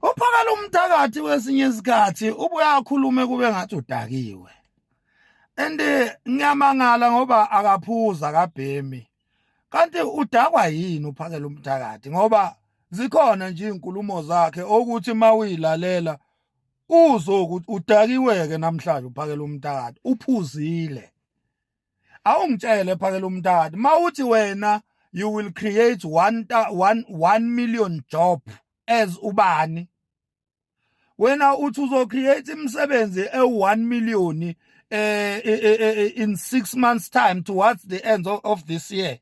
Uphakala umthakathi kwesinye isikhathi ubuye akhulume kube ngathi udakiwe. And ngiyamangala ngoba akaphuza akabhemi. Kanti udakwa yini uphakela umthakathi ngoba zikhona nje izinkulumo zakhe okuthi mawilalela uzoku udakiweke namhlanje uphakela umtata uphuzile awungitshele phakela umtata mawuthi wena you will create 1 1 million job as ubani wena uthi uzo create imisebenzi e1 million eh, eh, eh, eh in 6 months time towards the end of, of this year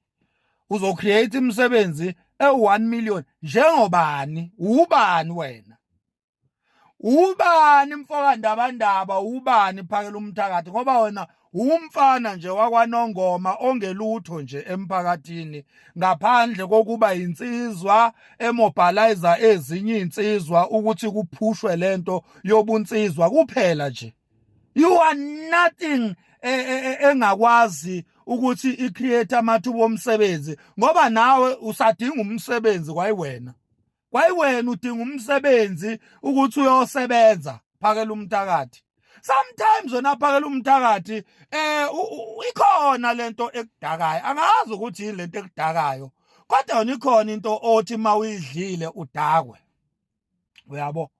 uzo create imisebenzi e1 million njengobani ubani wena ubani mfokandabandaba ubani phakela umthakathi ngoba wena umfana nje wakwanongoma ongelutho nje emphakathini ngaphandle kokuba insizwa emobilizer ezinye insizwa ukuthi kuphushwe lento yobunsizwa kuphela nje you are nothing e, e, e, engakwazi ukuthi i create amathuba omsebenzi ngoba nawe usadinga umsebenzi kwayiwena kwayiwena udinga umsebenzi ukuthi uyosebenza phakela umthakathi sometimes wena phakela umthakathi eh ikhona lento ekudakayo angazi ukuthi yini lento ekudakayo kodwa yona ikhona into othi mawuyidlile udakwe uyabo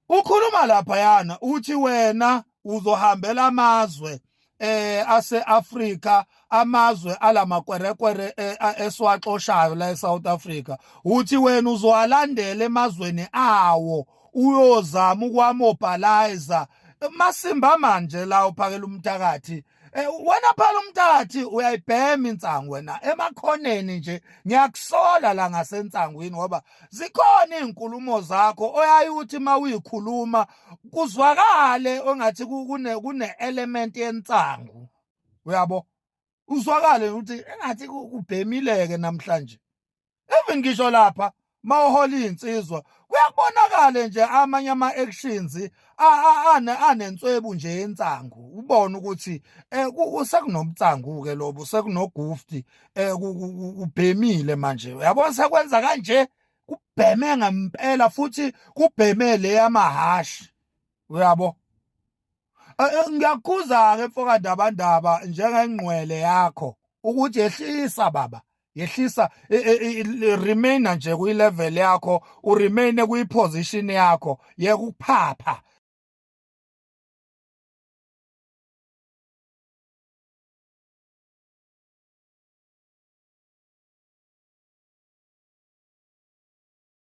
Ukhuluma laphayana uthi wena uzohambela amazwe eh aseAfrika amazwe alamakwerekwere eh, eswaxoshayo la eSouth Africa uthi wena uzowalandela emazweni awo uyozama ukwamobhalayiza masimba manje la uphakela umthakathi Eh, wena phela umntathi uyayibhema insangu wena emakhoneni nje ngiyakusola la ngasensangwini ngoba zikhona izinkulumo zakho oyayuthi mawuyikhuluma kuzwakale ongathi kune kune element yensangu uyabo uzwakale ukuthi engathi kubhemileke namhlanje even ngisho lapha mawuhola insizwa kuyakubonakala nje amanye ama actions anenswebu nje yensangu ubona ukuthi eh, sekunobutsangu ke lobo sekunogufti eh, ubhemile manje uyabona sekwenza kanje kubheme ngempela futhi kubheme le yamahashi uyabo eh, eh, ngiyakhuza ke mfoka ndaba ndaba njengengqwele yakho ukuthi yehlisa baba yehlisa remain nje kwi level yakho u remain kwi position yakho yekuphapha